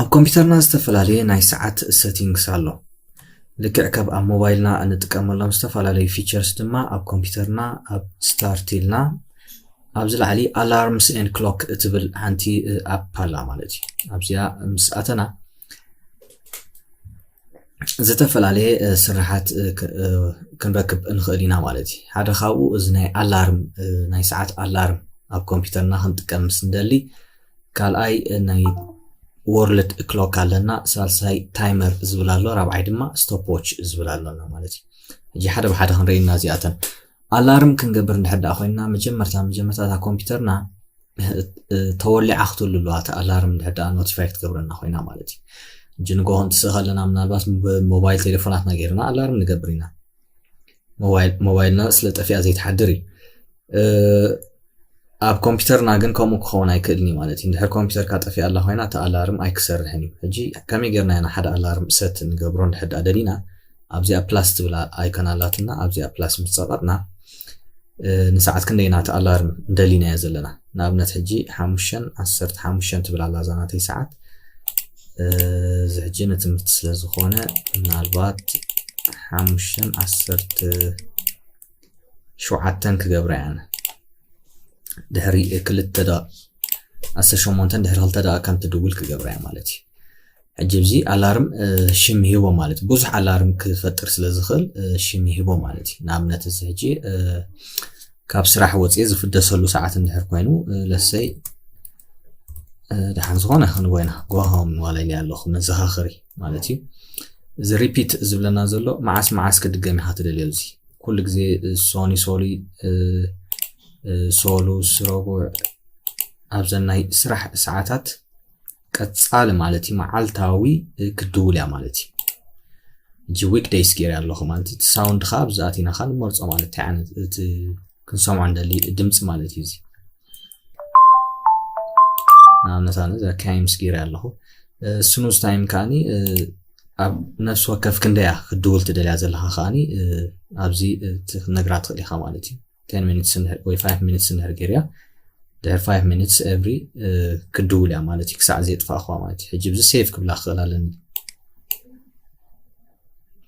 ኣብ ኮምፒተርና ዝተፈላለየ ናይ ሰዓት ሰቲንግስ ኣሎ። ልክዕ ከብ ኣብ ሞባይልና እንጥቀመሎም ዝተፈላለዩ ፊቸርስ ድማ ኣብ ኮምፒተርና ኣብ ስታርት ኢልና ኣብዚ ላዕሊ ኣላርምስ ኤን ክሎክ እትብል ሓንቲ ኣፕ ኣላ ማለት እዩ ኣብዚኣ ምስ ኣተና ዝተፈላለየ ስራሓት ክንረክብ ንኽእል ኢና ማለት እዩ ሓደ ካብኡ እዚ ናይ ኣላርም ናይ ሰዓት ኣላርም ኣብ ኮምፒውተርና ክንጥቀም ምስ ንደሊ ካልኣይ ናይ ወርልድ ክሎክ ኣለና ሳልሳይ ታይመር ዝብል ኣሎ ራብዓይ ድማ ስቶፕ ዎች ዝብል ኣሎና ማለት እዩ እጂ ሓደ ብሓደ ክንርእና እዚኣተን ኣላርም ክንገብር እንድሕር ደኣ ኮይንና መጀመርታ መጀመርታ እታ ኮምፒውተርና ተወሊዓ ክትህሉ ኣለዋ እቲ ኣላርም እንድሕር ደኣ ኖቲፋይ ክትገብረና ኮይና ማለት እዩ እጂ ንግሆ እንትስእ ከለና ምናልባት ብሞባይል ቴሌፎናትና ገይርና ኣላርም ንገብር ኢና ሞባይልና ስለ ጠፊኣ ዘይትሓድር እዩ ኣብ ኮምፒተርና ግን ከምኡ ክኸውን ኣይክእልን እዩ ማለት እዩ ድሕር ኮምፒተርካ ጠፊኣ ኣላ ኮይና እቲ ኣላርም ኣይክሰርሕን እዩ ሕጂ ከመይ ጌርና ኢና ሓደ ኣላርም ሰት ንገብሮ ንድሕዳ ደሊና ኣብዚኣ ፕላስ ትብላ ኣይኮን ኣላትና ኣብዚኣ ፕላስ ምስ ፀቐጥና ንሰዓት ክንደይና እቲ ኣላርም ደሊናዮ ዘለና ንኣብነት ሕጂ ሓሙሽተን ዓሰርተ ሓሙሽተን ትብል ኣላ ዛናተይ ሰዓት እዚ ሕጂ ንትምህርቲ ስለ ዝኾነ ምናልባት ሓሙሽተን ዓሰርተ ሸውዓተን ክገብራ እየን ድሕሪ ክልተ ደ ዓሰርተ ሸሞንተን ድሕሪ ክልተ ደቂቃ ከም ትድውል ክገብራ እየ ማለት እዩ ሕጂ እዚ ኣላርም ሽም ይህቦ ማለት እዩ ብዙሕ ኣላርም ክፈጥር ስለ ዝኽእል ሽም ይህቦ ማለት እዩ ንኣብነት እዚ ሕጂ ካብ ስራሕ ወፅየ ዝፍደሰሉ ሰዓት እንድሕር ኮይኑ ለሰይ ድሓን ዝኾነ ክንቦ ኢና ጎሆም ዋላይ ኣለኹ መዘኻኸሪ ማለት እዩ እዚ ሪፒት ዝብለና ዘሎ መዓስ መዓስ ክድገም ኢኻ ትደልዮ እዚ ኩሉ ግዜ ሶኒ ሶሊ ሶሉስ ረቡዕ ኣብዘን ናይ ስራሕ ሰዓታት ቀጻሊ ማለት እዩ መዓልታዊ ክድውል እያ ማለት እዩ እጂ ዊክ ደይስ ገይረ ኣለኹ ማለት እቲ ሳውንድ ከዓ ኣብዚ ኣቲና ከዓ ንመርፆ ማለት እንታይ ዓይነት እቲ ክንሰምዖ እንደሊ ድምፂ ማለት እዩ እዚ ንኣብነት ኣነ እዛ ካይምስ ገይረ ኣለኹ ስኑዝ ታይም ከዓኒ ኣብ ነፍሲ ወከፍ ክንደያ ክድውል ትደልያ ዘለካ ከዓኒ ኣብዚ ክትነግራ ትኽእል ኢኻ ማለት እዩ 10 ሚኒትስ እንድሕር ወይ 5 ሚኒትስ እንድሕር ገይርያ ድሕር 5 ሚኒትስ ኤቭሪ ክድውል እያ ማለት እዩ ክሳዕ ዘየጥፋእኹዋ ማለት እዩ ሕጂ ብዚ ሴቭ ክብላ ክኽእል ኣለኒ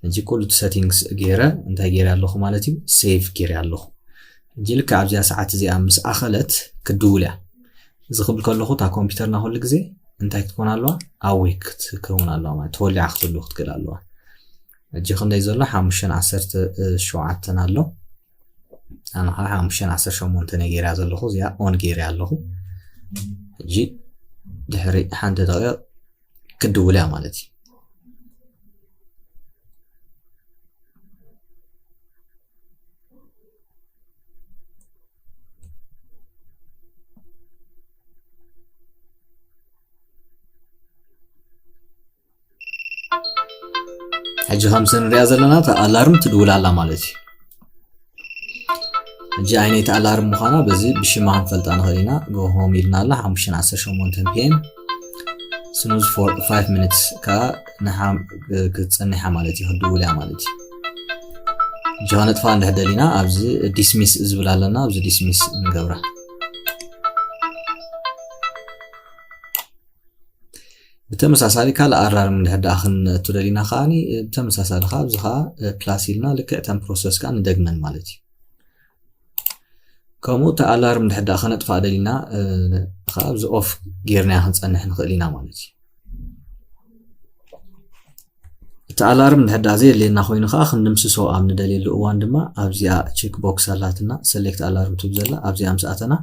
ሕጂ ኩሉ እቲ ሰቲንግስ ገይረ እንታይ ገይረ ኣለኹ ማለት እዩ ሴቭ ገይረ ኣለኹ ሕጂ ልክ ኣብዚኣ ሰዓት እዚኣ ምስ ኣኸለት ክድውል እያ እዚ ክብል ከለኹ እታ ኮምፒውተርና ኩሉ ግዜ እንታይ ክትኮን ኣለዋ ኣዌክ ክትከውን ኣለዋ ማለት ተወሊዓ ክትህሉ ክትክእል ኣለዋ ሕጂ ክንደይ ዘሎ ሓሙሽተን ዓሰርተ ሸውዓተን ኣሎ ኣነ ከዓ ሓሙሽተ ዓሰርተ ሸሞንተ ነጌርያ ዘለኹ እዚኣ ኦን ጌርያ ኣለኹ ሕጂ ድሕሪ ሓንቲ ደቂቕ ክድውል እያ ማለት እዩ ሕጂ ከምቲ ንሪኣ ዘለና እታ ኣላርም ትድውል ኣላ ማለት እዩ ሕጂ ኣይነይቲ ኣላርም ምዃና በዚ ብሽማ ክንፈልጣ ንኽእል ኢና ጎሆም ኢልና ኣላ ሓሙሽተን ዓሰርተ ሸሞንተን ፒኤም ስኑዝ ፎር ፋይቭ ሚኒትስ ከዓ ክትፀኒሓ ማለት እዩ ክትድውል እያ ማለት እዩ ሕጂ ከነጥፋ እንድሕ ደሊና ኣብዚ ዲስሚስ ዝብል ኣለና ኣብዚ ዲስሚስ ንገብራ ብተመሳሳሊ ካልእ ኣራርም እንድሕር ደኣ ክንእቱ ደሊና ከዓ ብተመሳሳሊ ከዓ ኣብዚ ከዓ ፕላስ ኢልና ልክዕ ተን ፕሮሰስ ከዓ ንደግመን ማለት እዩ ከምኡ እቲ ኣላርም እንድሕር ደኣ ከነጥፋእ ደሊና ከዓ ኣብዚ ኦፍ ጌርናያ ክንፀንሕ ንኽእል ኢና ማለት እዩ እቲ ኣላርም እንድሕር ደኣ ዘየድልየና ኮይኑ ከዓ ክንድምስሶ ኣብ ንደልየሉ እዋን ድማ ኣብዚኣ ቼክ ቦክስ ኣላትና ሰሌክት ኣላርም ትብ ዘላ ኣብዚኣ ምስ ኣተና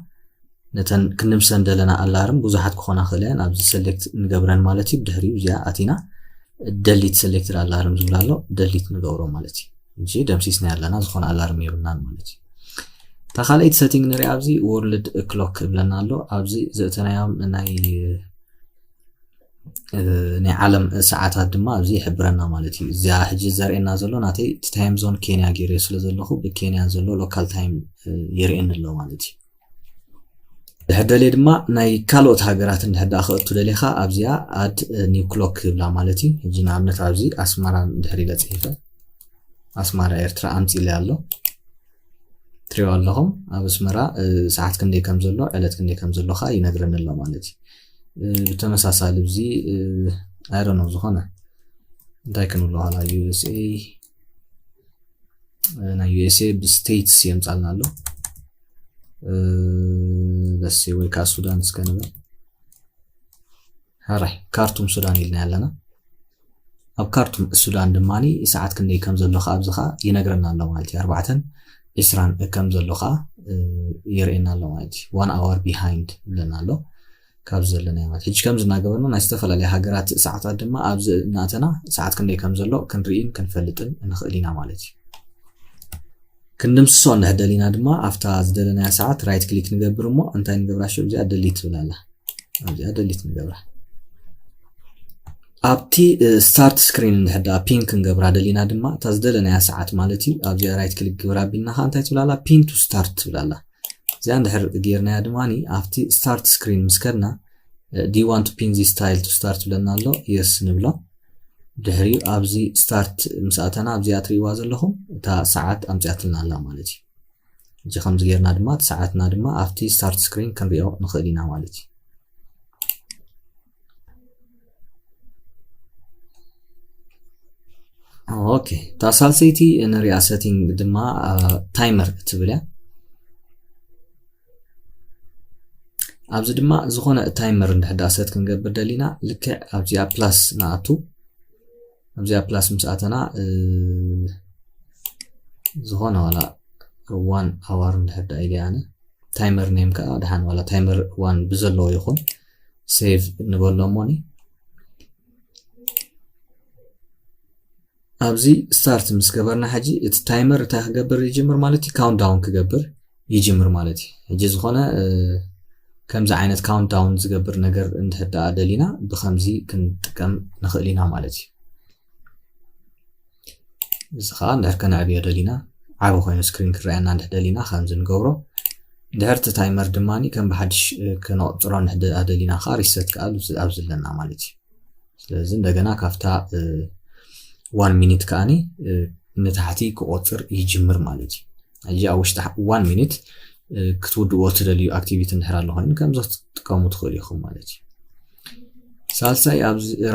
ነተን ክንምሰን ደለና ኣላርም ብዙሓት ክኾና ክእለን ኣብዚ ሰሌክት ንገብረን ማለት እዩ ብድሕሪኡ እዚኣ ኣቲና ደሊት ሰሌክትድ ኣላርም ዝብላ ኣሎ ደሊት ንገብሮ ማለት እዩ እንጂ ደምሲስና ኣለና ዝኾነ ኣላርም የብልናን ማለት እዩ እታ ካልኣይቲ ሰቲንግ ንሪኣ ኣብዚ ወርልድ ክሎክ እብለና ኣሎ ኣብዚ ዘእተናዮም ናይ ናይ ዓለም ሰዓታት ድማ ኣብዚ ይሕብረና ማለት እዩ እዚያ ሕጂ ዘርእየና ዘሎ ናተይ እቲ ታይም ዞን ኬንያ ገይረዮ ስለ ዘለኹ ብኬንያ ዘሎ ሎካል ታይም የርእየኒ ኣሎ ማለት እዩ ድሕር ደልየ ድማ ናይ ካልኦት ሃገራት እንድሕር ደኣ ክእቱ ደሊኻ ኣብዚኣ ኣድ ኒው ክሎክ ይብላ ማለት እዩ እዚ ንኣብነት ኣብዚ ኣስመራ ድሕር ኢለ ፅሒፈ ኣስመራ ኤርትራ ኣምፂለ ኣሎ ትሪኦ ኣለኹም ኣብ ኣስመራ ሰዓት ክንደይ ከም ዘሎ ዕለት ክንደይ ከም ዘሎ ከዓ ይነግረኒ ኣሎ ማለት እዩ ብተመሳሳሊ እዚ ኣይረኖ ዝኾነ እንታይ ክንብሎ ኋላ ዩኤስኤ ናይ ዩኤስኤ ብስቴትስ የምፃልና ኣሎ ደሴ ወይ ከዓ ሱዳን እስከ ንብል ሕራይ ካርቱም ሱዳን ኢልና ኣለና ኣብ ካርቱም ሱዳን ድማ ሰዓት ክንደይ ከም ዘሎ ከዓ ኣብዚ ከዓ ይነግረና ኣሎ ማለት እዩ ኣርባዕተን ዒስራን ከም ዘሎ ከዓ የርእየና ኣሎ ማለት እዩ ዋን ኣወር ቢሃይንድ ይብለና ኣሎ ካብ ዘለና ማለት ሕጂ ከምዚ እናገበርና ናይ ዝተፈላለየ ሃገራት ሰዓታት ድማ ኣብዚ እናእተና ሰዓት ክንደይ ከም ዘሎ ክንርኢን ክንፈልጥን ንኽእል ኢና ማለት እዩ ክንድምስሶ እንድሕር ደሊና ድማ ኣብታ ዝደለናያ ሰዓት ራይት ክሊክ ንገብር እሞ እንታይ ንገብራ ሽዑ እዚኣ ደሊት ትብል ኣላ ኣብዚኣ ደሊት ንገብራ ኣብቲ ስታርት ስክሪን እንድሕር ደኣ ፒን ክንገብራ ደሊና ድማ እታ ዝደለናያ ሰዓት ማለት እዩ ኣብዚኣ ራይት ክሊክ ግብራ ኣቢልና ከዓ እንታይ ትብል ኣላ ፒን ቱ ስታርት ትብል ኣላ እዚኣ እንድሕር ጌርናያ ድማ ኣብቲ ስታርት ስክሪን ምስ ከድና ዲ ዋን ቱ ፒን ዚ ስታይል ቱ ስታርት ብለና ኣሎ የስ ንብሎ ድሕሪኡ ኣብዚ ስታርት ምስ ኣተና ኣብዚኣ ትርእይዋ ዘለኹም እታ ሰዓት ኣምፅኣትልና ኣላ ማለት እዩ እዚ ከምዚ ጌርና ድማ እቲ ሰዓትና ድማ ኣብቲ ስታርት ስክሪን ክንሪኦ ንኽእል ኢና ማለት እዩ ኦኬ እታ ሳልሰይቲ ንሪኣ ሰቲንግ ድማ ታይመር እትብል እያ ኣብዚ ድማ ዝኾነ ታይመር እንድሕዳ ሰት ክንገብር ደሊና ልክዕ ኣብዚኣ ፕላስ ንኣቱ ኣብዚኣ ፕላስ ምስ ኣተና ዝኾነ ዋላ ዋን ኣዋር እንድሕዳ ኢለ ኣነ ታይመር ኔም ከዓ ድሓን ዋላ ታይመር ዋን ብዘለዎ ይኹን ሴቭ ንበሎ እሞኒ ኣብዚ ስታርት ምስ ገበርና ሕጂ እቲ ታይመር እንታይ ክገብር ይጅምር ማለት እዩ ካውንት ዳውን ክገብር ይጅምር ማለት እዩ ሕጂ ዝኾነ ከምዚ ዓይነት ካውንት ዳውን ዝገብር ነገር እንድሕር ደኣ ደሊና ብከምዚ ክንጥቀም ንኽእል ኢና ማለት እዩ እዚ ከዓ እንድሕር ከነዕብዮ ደሊና ዓብ ኮይኑ ስክሪን ክረኣየና እንድሕር ደሊና ከምዚ ንገብሮ ድሕር እቲ ታይመር ድማ ከም ብሓድሽ ክነቕፅሮ እንድሕር ደሊና ከዓ ሪሰት ከዓ ኣብዚ ኣለና ማለት እዩ ስለዚ እንደገና ካብታ ዋን ሚኒት ከዓኒ ንታሕቲ ክቆፅር ይጅምር ማለት እዩ ሕጂ ኣብ ውሽጢ ዋን ሚኒት ክትውድእዎ እትደልዩ ኣክቲቪቲ እንድሕር ኣሎ ኮይኑ ከምዚ ክትጥቀሙ ትኽእሉ ኢኹም ማለት እዩ ሳልሳይ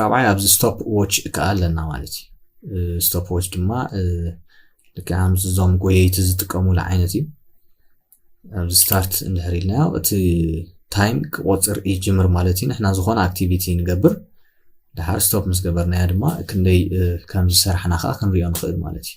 ራብዓይ ኣብዚ ስቶፕ ዎች ከዓ ኣለና ማለት እዩ ስቶፕ ዎች ድማ ልክዕ ከምዚ እዞም ጎየይቲ ዝጥቀሙሉ ዓይነት እዩ ኣብዚ ስታርት እንድሕር ኢልናዮ እቲ ታይም ክቆፅር ይጅምር ማለት እዩ ንሕና ዝኾነ ኣክቲቪቲ ንገብር ድሓር ስቶፕ ምስ ገበርናዮ ድማ ክንደይ ከም ዝሰራሕና ከዓ ክንሪኦ ንኽእል ማለት እዩ